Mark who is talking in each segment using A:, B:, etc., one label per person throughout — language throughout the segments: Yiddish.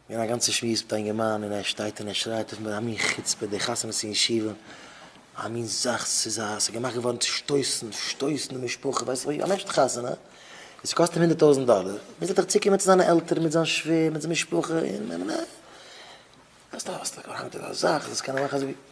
A: געווען א גאנצע שמועס מיט א אינגערמאן און ער שטייט און ער שרייט אויף מיר א מין חוצפה די חתונה צו אין שיווע א מין זאך ס'איז א ס'איז געמאכט געווארן צו שטויסן שטויסן די משפחה ווייסט ווי א מענטשן חתונה וואס קאסט אים הונדערט טויזנט דאלער מוז ער דאך צוקומען צו זיינע עלטערן מיט זיין שווער מיט זיין משפחה און נה נה נה ווייסט א ווייסט א קאראנטע זאך דאס קען ער מאכן אזוי ווי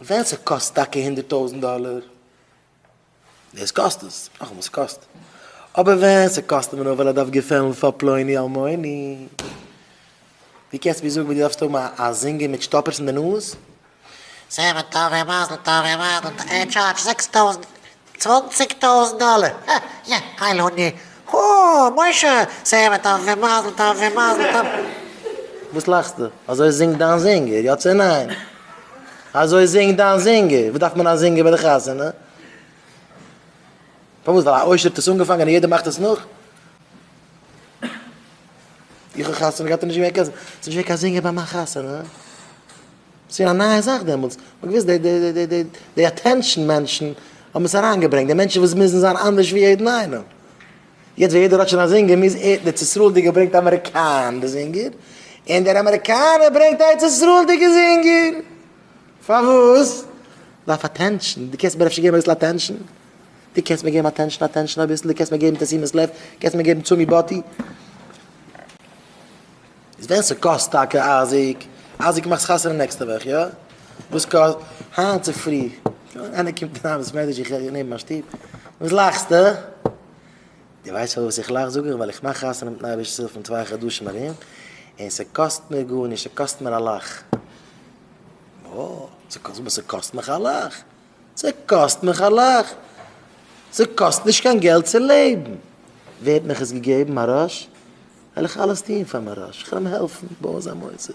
A: ווען ס'קאסט טאקע הונדערט טויזנט דאלער, דאס קאסט עס, נאכאמאל ס'קאסט, אבער ווען ס'קאסט אים נאר ווייל ער דארף געפעלן פאר פלוני אלמוני, דו קענסט מיר זאגן ווי דו דארפסט האבן א זינגער מיט שטאפערס אין די נאז? זעמער טובים מזל
B: טוב און מזל טוב, ער טשארדזשט זעקס טויזנט צוואנציג טויזנט דאלער! הא יא הייל און ני הא! משה! סעווע טוב ומזל טוב ומזל טוב!
A: וואס לאכסטו? אזוי זינגט דיין זינגער, יא צו ניין? אזוי זינגט דיין זינגער! וואס דארף מען א זינגער ביי די חתונה? פארוואס? ווייל א עושר האט עס אנגעפאנגען און יעדער מאכט עס נאך? איך האב חתונה געהאט און נישט געווען קיין, ס'איז נישט געווען קיין זינגער ביי מיין חתונה? ס'געווען א נייע זאך דעמאלטס, מ'האט געוואוסט די די די די די אטענשאן מענטשן האבן עס אריינגעברענגט, די מענטשן וואס מוזן זיין אנדערש ווי יעדן איינעם. יעצט ווען יעדער האט שוין א זינגער מוז ער, דער צעסראלדיגער ברענגט אמעריקאן די זינגער, און דער אמעריקאנער ברענגט א ארץ ישראל'דיגע זינגער. פארוואס? ווייל אויף אטענשאן, דו קענסט מיר אפשר געבן אביסל אטענשאן? דו קענסט מיר געבן אטענשאן אטענשאן אביסל? דו קענסט מיר געבן תשימת לב? דו קענסט מיר געבן תשומת לב? איז ווען ס'קאסט טאקע אייזיק, אייזיק מאכסט חתונה נעקסטע וואך יא? וואס קאסט? היינט צופרי איינער קומט אריין אין בית מדרש איך הער נעבן מיין שטוב, וואס לאכסטו? דו ווייסט פארוואס איך לאך? זאג איך ווייל איך מאך חתונה מיטן אייבערשטנ'ס הילף אין צוויי חדשים ארום, און ס'קאסט מיר גארנישט, ס'קאסט מיר א לאך. וואו? ס'קאסט? וואס ס'קאסט מיך א לאך? ס'קאסט מיך א לאך. ס'קאסט נישט קיין געלט צו לעבן. ווערט מיך עס געגעבן א רעש, וועל איך אלעס טון פאר מיין רעש. כ'וועל אים העלפן בויען זיין מוסד.